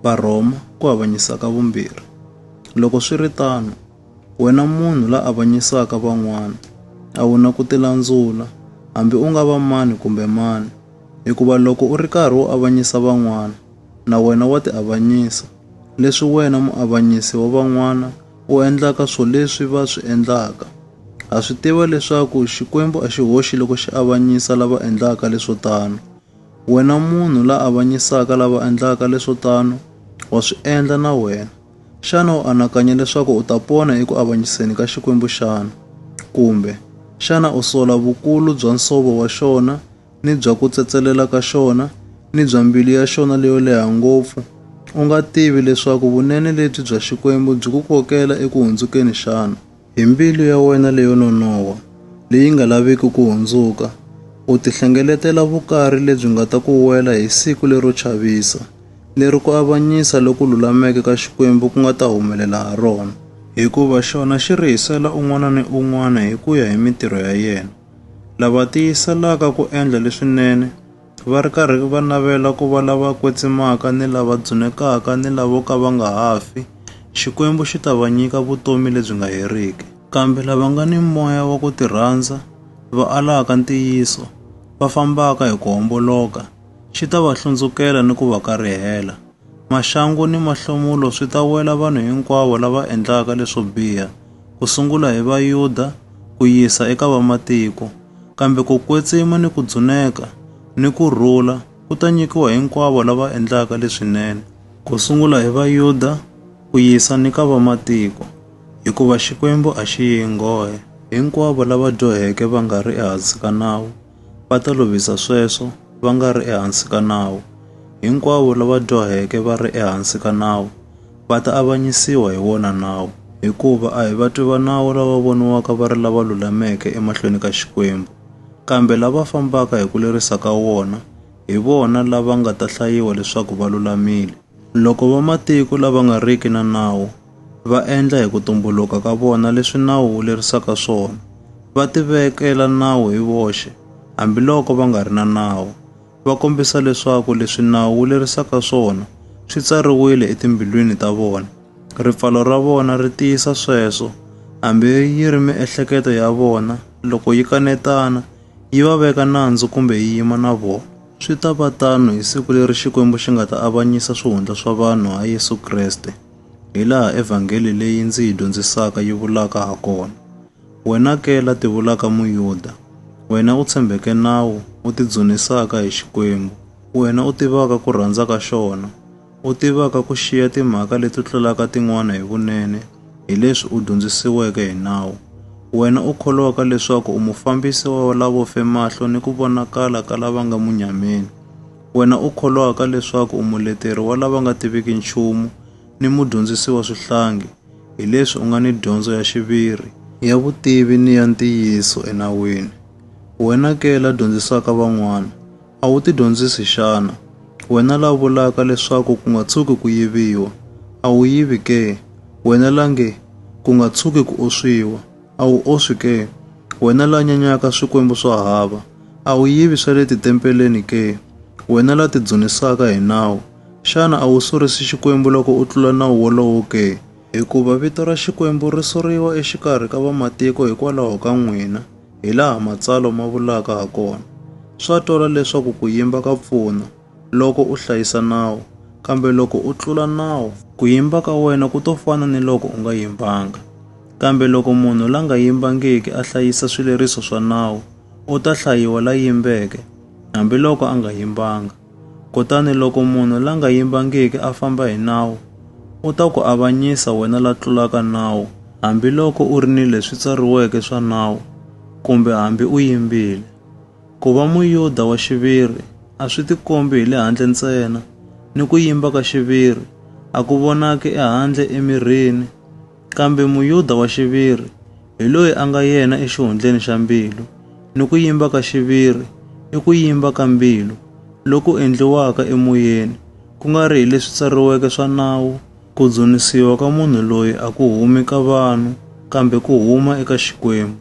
Varhoma ku avanyisa ka vumbirhi. Loko swi ri tano, wena munhu la avanyisaka van'wana a wu na ku tilandzula, hambi u nga va mani kumbe mani, hikuva loko u ri karhi u avanyisa van'wana, na wena wa tiavanyisa, leswi wena muavanyisi wa van'wana u endlaka swo leswi va swi endlaka. Ha swi tiva leswaku Xikwembu a xi hoxi loko xi avanyisa lava endlaka leswo tano. Wena munhu la avanyisaka lava endlaka leswo tano, wa swi endla na wena. Xana u anakanya leswaku u ta pona eku avanyiseni ka Xikwembu xana? Kumbe, xana u sola vukulu bya nsovo wa xona, ni bya ku tsetselela ka xona, ni bya mbilu ya xona leyo leha ngopfu, u nga tivi leswaku vunene lebyi bya Xikwembu byi ku kokela eku hundzukeni xana? Hi mbilu ya wena leyo nonoha, leyi nga laviki ku hundzuka, u tihlengeletela vukari lebyi nga ta ku wela hi siku lero chavisa, leri ku avanyisa loku lulameke ka Xikwembu ku nga ta humelela ha rona. Hikuva xona xi rihisela un'wana ni un'wana hi ku ya hi mitirho ya yena, lava tiyiselaka ku endla leswinene, Va ri karhi va navela ku va lava kwetsimaka ni lava dzunekaka ni lavo ka va nga ha fi, Xikwembu xi ta va nyika vutomi lebyi nga heriki. Kambe lava nga ni moya wa ku tirhandza, va alaka ntiyiso, va fambaka hi ku homboloka, xi ta va hlundzukela ni ku va karihela. Maxangu ni mahlomulo swi ta wela vanhu hinkwavo lava endlaka leswo biha, ku sungula hi Vayuda ku yisa eka Vamatiko. Kambe ku kwetsima ni ku dzuneka ni ku rhula ku ta nyikiwa hinkwavo lava endlaka leswinene, ku sungula hi Vayuda ku yisa ni ka Vamatiko, hikuva Xikwembu a xi yi nghohe. Hinkwavo lava dyoheke va nga ri ehansi ka nawu. va ta lovisa sweswo va nga ri ehansi ka nawu. Hinkwavo lava dyoheke va ri ehansi ka nawu va ta avanyisiwa hi wona nawu, hikuva a hi vatwi va nawu lava voniwaka va ri lava lulameke emahlweni ka Xikwembu, kambe lava fambaka hi ku lerisa ka wona, hi vona lava nga ta hlayiwa leswaku va lulamile. Loko vamatiko lava nga riki na nawu, va endla hi ku tumbuluka ka vona leswi nawu wu lerisaka swona, va tivekela nawu hi voxe hambiloko va nga ri na nawu, va kombisa leswaku leswi nawu wu lerisaka swona swi tsariwile etimbilwini ta vona. Ripfalo ra vona ri tiyisa sweswo, hambi yi ri miehleketo ya vona, loko yi kanetana, yi va veka nandzu kumbe yi yima na vona. Swi ta va tano hi siku leri Xikwembu xi nga ta avanyisa swihundla swa vanhu ha Yesu Kreste. hilaha Evhangeli leyi ndzi yi dyondzisaka yi vulaka ha kona. Wena ke la tivulaka Muyuda, wena u tshembeke nawu, u tidzunisaka hi Xikwembu, wena u tivaka ku rhandza ka xona, u tivaka ku xiya timhaka leti tlulaka tin'wana hi vunene hi leswi u dyondzisiweke hi nawu, wena u kholwaka leswaku u mufambisi wa lavo fe mahlo ni ku vonakala ka lava nga munyameni, Wena u kholwaka leswaku u muleteri wa lava nga tiviki nchumu ni mudyondzisi wa swihlangi, hi leswi u nga ni dyondzo ya xiviri, ya vutivi ni ya ntiyiso enawini, wena ke la dyondzisaka van'wana, a wu tidyondzisi xana? Wena la vulaka leswaku ku nga tshuki ku yiviwa, a wu yivi ke? Wena la nge, Ku nga tshuki ku oswiwa! A wu oswi ke, wena la nyanyaka swikwembu swa hava? A wu yivi swa le titempeleni ke, wena la tidzunisaka hi nawu? Xana a wu surisi Xikwembu loko u tlula nawu wolowo ke? Hikuva vito ra Xikwembu ri suriwa exikarhi ka vamatiko hikwalaho ka n'wina, hilaha Matsalwa ma vulaka hakona, Swa twala leswaku ku yimba ka pfuna. loko u hlayisa nawu, kambe loko u tlula nawu, ku yimba ka wena ku to fana ni loko u nga yimbanga. Kambe loko munhu la nga yimbangiki a hlayisa swileriso swa nawu, u ta hlayiwa la yimbeke, hambiloko a nga yimbanga. Kutani loko munhu la nga yimbangiki a famba hi nawu, u ta ku avanyisa wena la tlulaka nawu, hambiloko u ri ni leswi tsariweke swa nawu, kumbe hambi u yimbile. Ku va Muyuda wa xiviri a swi tikombi hi le handle ntsena, ni ku yimba ka xiviri a ku vonaki ehandle emirini. Kambe Muyuda wa xiviri hi loyi a nga yena exihundleni xa mbilu, ni ku yimba ka xiviri i ku yimba ka mbilu loku endliwaka emoyeni, ku nga ri hi leswi tsariweke swa nawu. Ku dzunisiwa ka munhu loyi a ku humi ka vanhu, kambe ku huma eka Xikwembu.